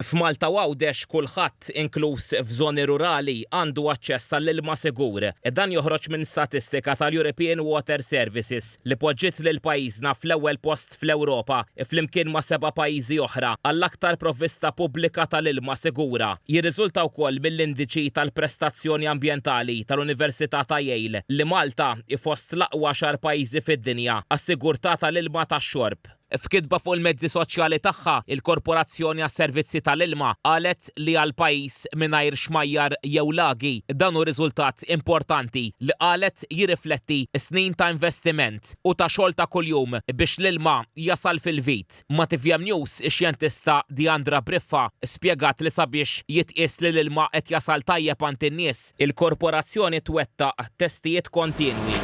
F'Malta u Għawdex kulħadd, inkluż f'żoni rurali, għandu aċċess għall-ilma sigur. Dan joħroġ minn statistika tal-European Water Services li poġġiet lil pajjiżna fl-ewwel post fl-Ewropa, flimkien ma' seba' pajjiżi oħra, għall-aktar provvista pubblika tal-ilma sigura. Jirriżulta wkoll mill-indiċi tal-prestazzjoni ambjentali tal-Università ta' Yale li Malta hi fost l-aqwa għaxar pajjiżi fid-dinja għas-sigurtà tal-ilma tax-xorb. F'kitba fuq il-mezzi soċjali tagħha, il-Korporazzjoni għas-Servizzi tal-Ilma qalet li għal pajjiż mingħajr xmajjar jew lagi, dan hu riżultat importanti li qalet jirrifletti snin ta' investiment u ta' xogħol ta' kuljum biex l-ilma jasal fil-vit. Ma' tvm News, ix-xjentista Diandra Briffa spjegat li sabiex jitqies li l-ilma qed jasal tajjeb għand in-nies, Il-Korporazzjoni twettaq testijiet kontinwi.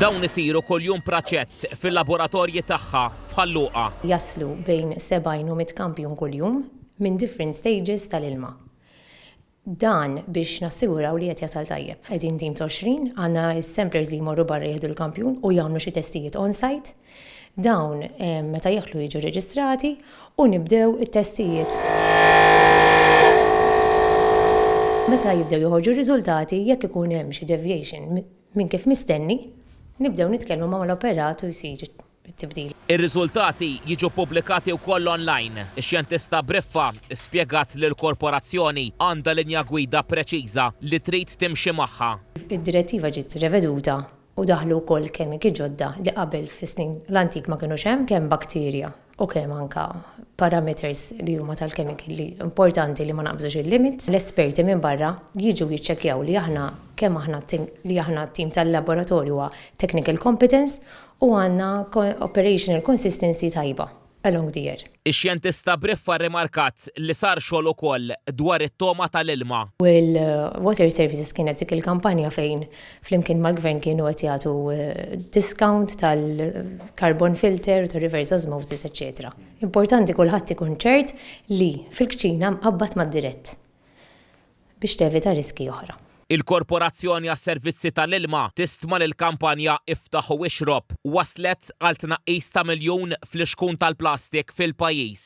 Dawn isiru kuljum praċett fil-laboratorji tagħha f'Ħal Luqa. Jaslu bejn 70 u 100 kampjun kuljum minn different stages tal-ilma. Dan biex nassiguraw li qed jasal tajjeb. Qegħdin tim ta' 20, għandna s-samplers li jmorru barra jieħdu l-kampjun u jagħmlu xi testijiet on-site. Dawn meta jidħlu jiġu rreġistrati u nibdew it-testijiet. Meta jibdew joħorġu r-riżultati, jekk ikun hemm xi deviation minn kif mistenni, nibdew nitkellmu mal-operat u jsir it-tibdil. Ir-riżultati jiġu ppubblikati wkoll online. Ix-xjentista Briffa spjegat li l-korporazzjoni għandha linja gwida preċiża li trid timxi magħha. Id-direttiva ġiet reveduta u daħlu wkoll kemiki ġodda li qabel fis-snin l-antik ma kinux hemm, kemm bakterja u kemm anke parameters li huma tal-kemiki li importanti li ma naqbżux il-limit. L-esperti minn barra jiġu jiċċekkjaw li aħna kemm aħna li aħna t-tim tal-laboratorju huwa technical competence u għandna operational consistency tajba along the year. Ix-xjentista Briffa rrimarkat li sar xogħol ukoll dwar it-togħma tal-ilma. U l-Water Services kienet dik il-kampanja fejn flimkien mal-Gvern kienu qed jagħtu discount tal-carbon filter u tar-reverse osmosis eċċetera. Importanti kulħadd ikun ċert li fil-kċina mqabbad mad-dirett. biex tevita riskji oħra. Il-Korporazzjoni għas-Servizzi tal-Ilma tistma li l-kampanja Iftaħ u Ixrob wasslet għal tnaqqis ta' miljun fl-ixkun tal-plastik fil-pajjiż.